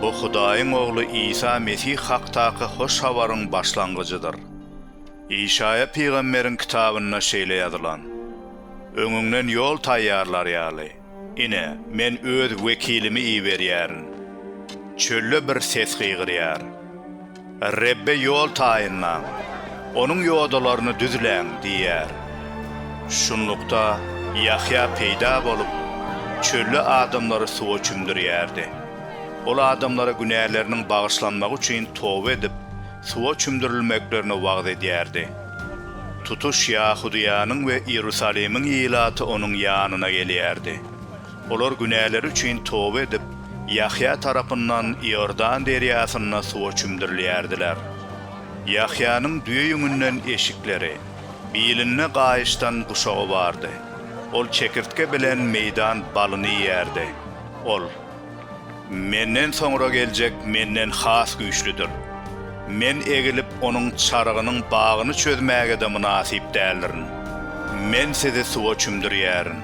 Bu Hudaýyň Ogly Isa Mesih hakdaky hoş habaryň başlangyjydyr. Işaýa pygamberiň kitabynda şeýle ýazylan, Öňüňden ýol taýýarlar ýaly, ine, Men Öz wekilimi iberýärin. Çölde bir ses gygyrýar. Rebbe ýol taýynlaň, Onuň ýodalaryny düzläň diýýär. Şunlukda, Ýahýa peýda bolup, çölde adamlary suwa çümdürýärdi. Ol adamlara günäleriniň bagyşlanmagy üçin toba edip, suwa çümdürilmeklerini wagyz edýärdi. Tutuş Ýahudyýanyň we Iýerusalimiň ilaty onuň ýanyna gelýärdi. Olar günäleri üçin toba edip, Ýahýa tarapyndan Iordan derýasynda suwa çümdürilýärdiler. Ýahýanyň düýe ýüňünden eşikleri, bilinde gaýyşdan guşagy bardy. Ol çekirtge bilen meýdan balyny iýýärdi. Ol, Menden soňra geljek menden has güýçlüdir. Men egilip, onuň çarygynyň bagyny çözmäge-de mynasyp däldirin. Men sizi suwa çümdürýärin.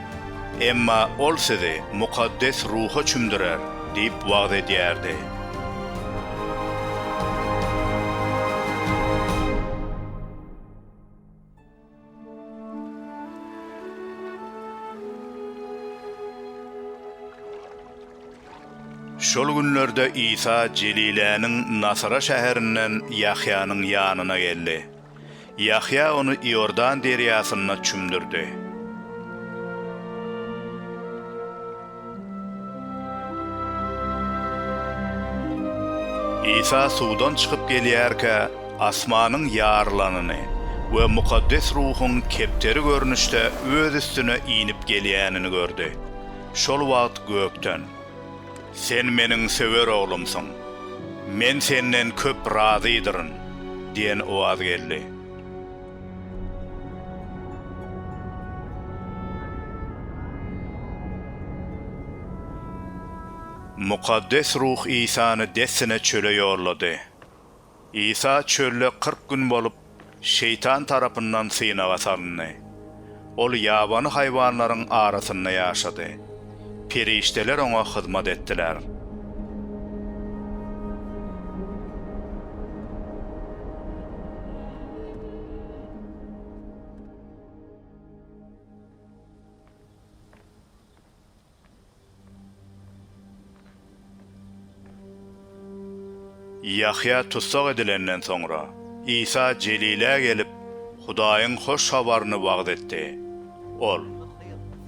Emma ol sizi mukaddes ruha çümdürer diýip wagyz edýärdi. Şol günlerde Isa Jeliläniň Nasara şäherinden Ýahýanyň ýanyna geldi. Ýahýa ony Iordan derýasynda çümdürdi. Isa suwdan çykyp gelýärkä asmanyň ýarylanyny we Mukaddes Ruhuň kepderi görnüşde öz üstüne inip gelýänini gördi. Şol wagt gökden. Sen Meniň söwer Oglumsyň. Men Senden köp razydyryn diýen owaz geldi. Mukaddes Ruh Isany dessine çöle ýollady. Isa çölde kyrk gün bolup, Şeýtan tarapyndan synaga salyndy. Ol ýabany haýwanlaryň arasynda ýaşady. Perişdeler oňa hyzmat etdiler. Ýahýa tussag edilenden soňra, Isa Jelilä gelip, Hudaýyň hoş habaryny wagyz etdi. Ol,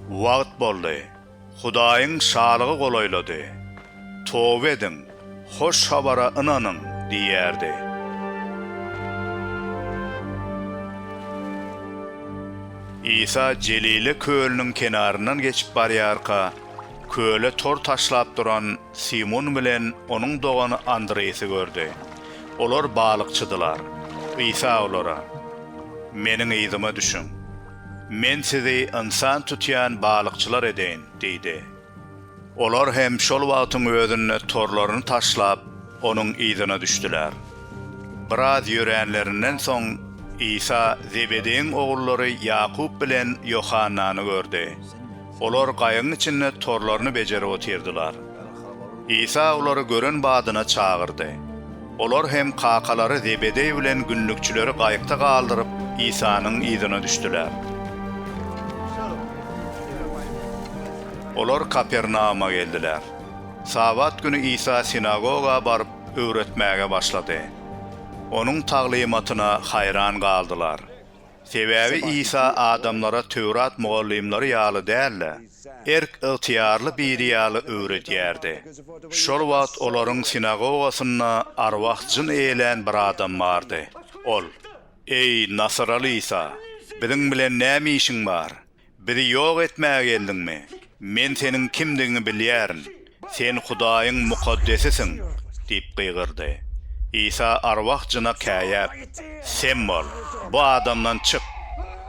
Wagt boldy! Hudaýyň Şalygy golaýlady! Toba ediň! Hoş habara ynanyň! diýýärdi. Isa Jelile kölüniň kenaryndan geçip barýarka, köle tor taşlap duran Simun bilen onuň dogany Andreýasy gördi. Olar balykçydylar. Isa olara, Meniň yzyma düşüň. Men sizi ynsan tutýan balykçylar edeýin diýdi. Olar hem şol wagtyň özünde torlaryny taşlap, Onuň yzyna düşdüler. Biraz ýöränlerinden soň, Isa Zebedeýiň ogullary Ýakup bilen Ýohannany gördi. Olar gaýygyň içinde torlaryny bejerip otyrdylar. Isa olary gören badyna çagyrdy. Olar hem kakalary Zebedeý bilen günlükçileri gaýykda galdyryp, Isanyň yzyna düşdüler. Olar Kapernauma geldiler. Sabat güni Isa sinagoga baryp, öwretmäge başlady. Onuň taglymatyna haýran galdylar. Sebäbi Isa adamlara Töwrat mugallymlary ýaly däl-de, erk-ygtyýarly biri ýaly öwredýärdi. Şol wagt olaryň sinagogasynda arwah jyn eýelän bir adam bardy. Ol, Eý, nasyraly Isa, biziň bilen näme işiň bar? Bizi ýok etmäge geldiňmi? Men seniň kimdigiňi bilýärin. Sen Hudaýyň mukaddesisiň! diýip gygyrdy. Isa arwah jyna käýäp, Sem bol, bu adamdan çyk!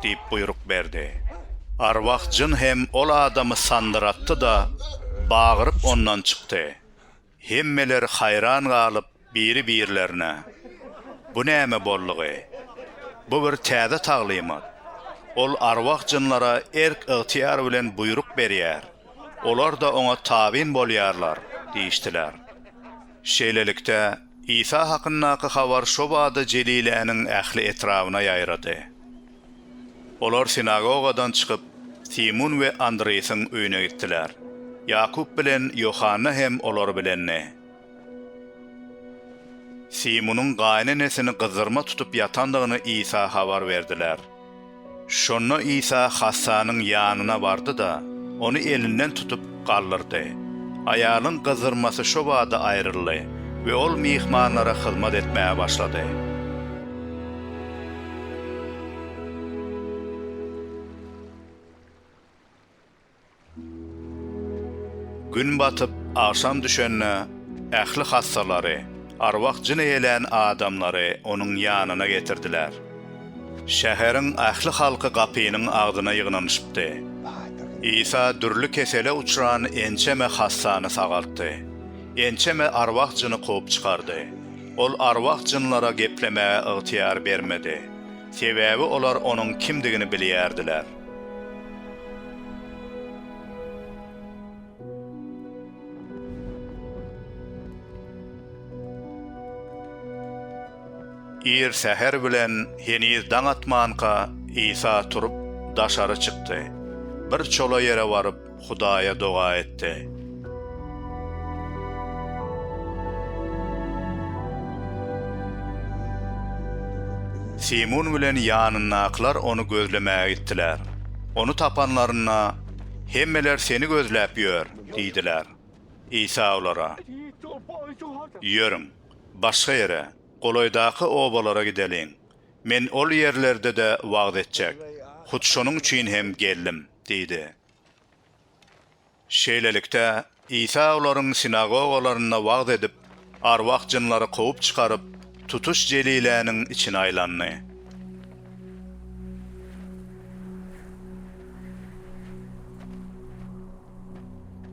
diýip buýruk berdi. Arwah jyn hem ol adamy sandyratdy-da, bagyryp ondan çykdy. Hemmeler haýran galyp biri-birlerine, Bu näme boldugy? Bu bir täze taglymat. Ol arwah-jynlara erk-ygtyýar bilen buýruk berýär, olar-da oňa tabyn bolýarlar diýişdiler. Şeýlelikde, Isa hakyndaky habar şobada Jeliläniň ähli etrabyna ýaýrady. Olar sinagogadan çykyp, Simun we Andreýasiň öýüne gitdiler. Ýakup bilen Ýohanna hem olar bilendi. Simunyň gaýynenesini gyzzyrma tutup ýatandygyny Isa habar berdiler. Şonda Isa hassanyň ýanyna bardy-da, ony elinden tutup, galdyrdy. Aýalyň gyzzyrmasy şo bada aýryldy we ol myhmanlara hyzmat etmäge başlady. Gün batyp, agşam düşende, ähli hassalary, arwah-jyn eýlän adamlary onuň ýanyna getirdiler. Şäheriň ähli halky gapynyň agzyna ýygnanyşypdy. Isa dürli kesele uçran ençeme hassany sagaltdy, ençeme arwah-jyny kowup çykardy. Ol arwah-jynlara geplemäge ygtyýar bermedi, sebäbi olar onuň kimdigini bilýärdiler. Ir säher bilen, heniz daň atmanka, Isa turup, daşary çykdy. Bir çola ýere baryp, Hudaýa doga etdi. Simun bilen ýanyndakylar ony gözlemäge gitdiler. Ony tapanlarynda, Hemmeler seni gözläp ýör diýdiler. Isa olara, Ýörüň, başga ýere, golaýdaky obalara gideliň. Men ol ýerlerde-de wagyz etjek, hut şonuň üçin hem geldim diýdi. Şeýlelikde, Isa olaryň sinagogalarynda wagyz edip, arwah jynlary kowup çykaryp, tutuş Jeliläniň içine aýlandy.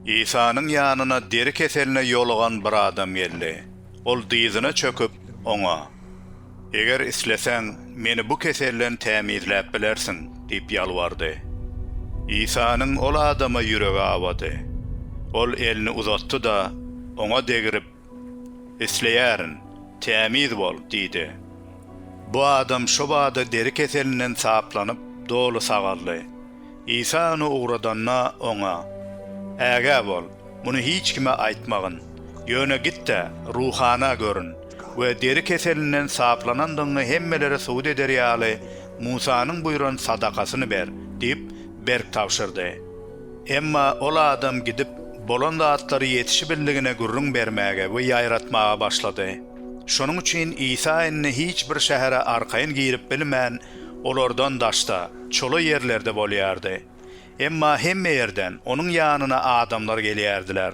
Isanyň ýanyna deri keseline ýolugan bir adam geldi. Ol dyzyna çöküp, Oňa, Eger isleseň, meni bu keselden tämizläp bilersiň diýip ýalbardy. Isanyň ol adama ýüregi awady. Ol elini uzatdy-da, oňa degrip, Isleýärin, tämiz bol, diýdi. Bu adam şo bada deri keselinden saplanyp, doly sagaldy. Isa ony ugradanda, oňa, Ägä bol, muny hiç kime aýtmagyn, ýöne git-de, ruhana görün we deri keselinden saplanandygyňy hemmelere subut eder ýaly, Musanyň buýran sadakasyny ber diýip, berk tabşyrdy. Emma ol adam gidip, bolan zatlary ýetişibildigine gürrüň bermäge we ýaýratmaga başlady. Şonuň üçin Isa indi hiç bir şähere arkaýyn girip bilmän, olardan daşda, çola ýerlerde bolýardy. Emma hemme ýerden Onuň ýanyna adamlar gelýärdiler.